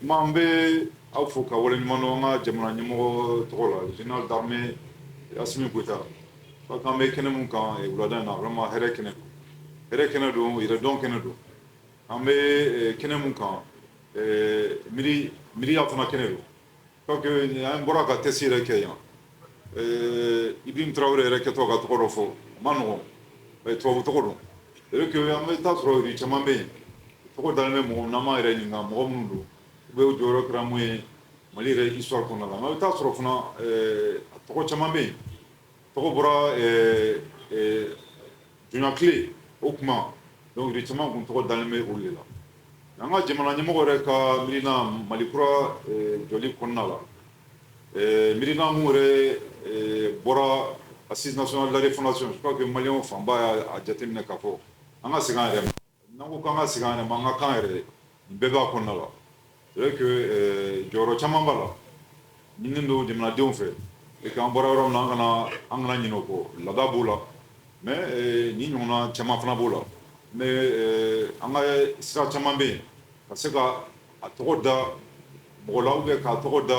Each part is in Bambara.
An bɛ aw fo ka aw waleɲumandɔn an ka jamana ɲɛmɔgɔ tɔgɔ la général d'armée Assimi Goïta parce que an bɛ kɛnɛ min kan wulada na vraiment hɛrɛ kɛnɛ don hɛrɛ kɛnɛ don yɛrɛdɔn kɛnɛ don an bɛ kɛnɛ min kan miiriya fana kɛnɛ don Parce que an bɔra ka tɛsi yɛrɛ kɛ yan Ibrahim Tarawele yɛrɛ kɛtɔ ka tɔgɔ dɔw fɔ man nɔgɔ tubabu tɔgɔ don c'est vrai que an bɛ taa a sɔrɔ rue caman bɛ yen tɔgɔ dalen bɛ mɔgɔ na an ma an yɛrɛ ɲininka mɔgɔ minnu don u bɛɛ jɔyɔrɔ kɛra mun ye mali yɛrɛ histoire kɔnɔna la mais an bɛ taa a sɔrɔ fana tɔgɔ caman bɛ yen Tɔgɔ bɔra diɲɛkɛlɛ o tuma donc rue caman tun tɔgɔ dalen bɛ olu de la an ka jamana ɲɛmɔgɔ yɛrɛ ka miirina mali kura jɔli kɔnɔna la miirina minnu yɛrɛ bɔra Assises nationales de la refondation je crois que Maliens fanba y'a jateminɛ ka fɔ an ka segin an yɛrɛ N'an ko k'an ka segin an yɛrɛ ma, an ka kan yɛrɛ, nin bɛɛ b'a kɔnɔna la. C'est vrai que ɛɛ jɔyɔrɔ caaman b'a la, ɲininen don jamanadenw fɛ et puis an bɔra yɔrɔ min na, an kana an kana ɲinɛ o kɔ. Laada b'o la mais ɛɛ nin ɲɔgɔnna caaman fana b'o la mais ɛɛ an ka sira caaman bɛ yen ka se ka a tɔgɔ da mɔgɔ la ou bien ka a tɔgɔ da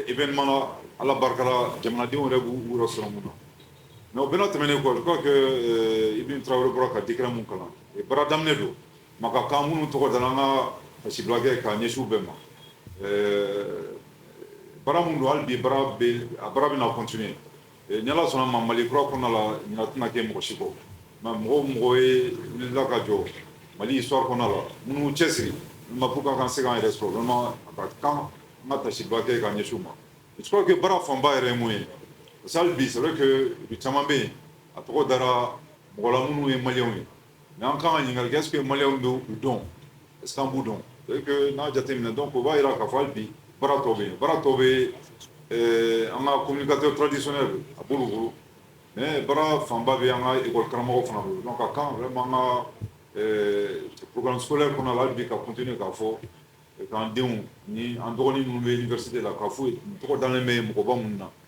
événement na ala barika la jamanadenw yɛrɛ b'u yɛrɛ sɔrɔ min na mais o bɛna tɛmɛn kɔ je crois que Ibrahim Tarawele bɔra ka décret min kalan baara daminɛ don ma ka kan minnu tɔgɔ dara an ka taasibila kɛ ka ɲɛsin u bɛɛ ma baara min don hali bi a baara bɛna continuer Ni ala sɔnna ma mali kura kɔnɔna la ɲɛna tɛna kɛ mɔgɔsi kɔ nka mɔgɔ mɔgɔ ye wulila ka jɔ mali sura kɔnɔ la minnu cɛ siri ma fo ka kan se yɛrɛ sɔrɔ nɔnɔ a ka kan n ka kasi ba kɛ ka ɲɛsu ma surakaww kɛ baara fanba yɛrɛ mun ye sa bi saba kɛ u caman bɛ yen a tɔgɔ dara mɔgɔ minnu ye maliw ye N'an ka kan ka ɲininka que mali bɛ u dɔn san b'u dɔn n'a jate min dɔn ko b'a jira ka fɔ bi bara tɔ bɛ bara tɔ bɛ an ka ko ka tɔtidis a bolo bolo mɛ bara fanba bɛ an kakɔ karamɔgɔ fana bolo ka kan bɛ ka psoɛ kɔnɔ la bi ka kunt k'a fɔ k'an denw ni an dɔgɔnin minnu bɛ yen gari la ka foyi tɔgɔ dalenlen bɛ mɔgɔba minnu na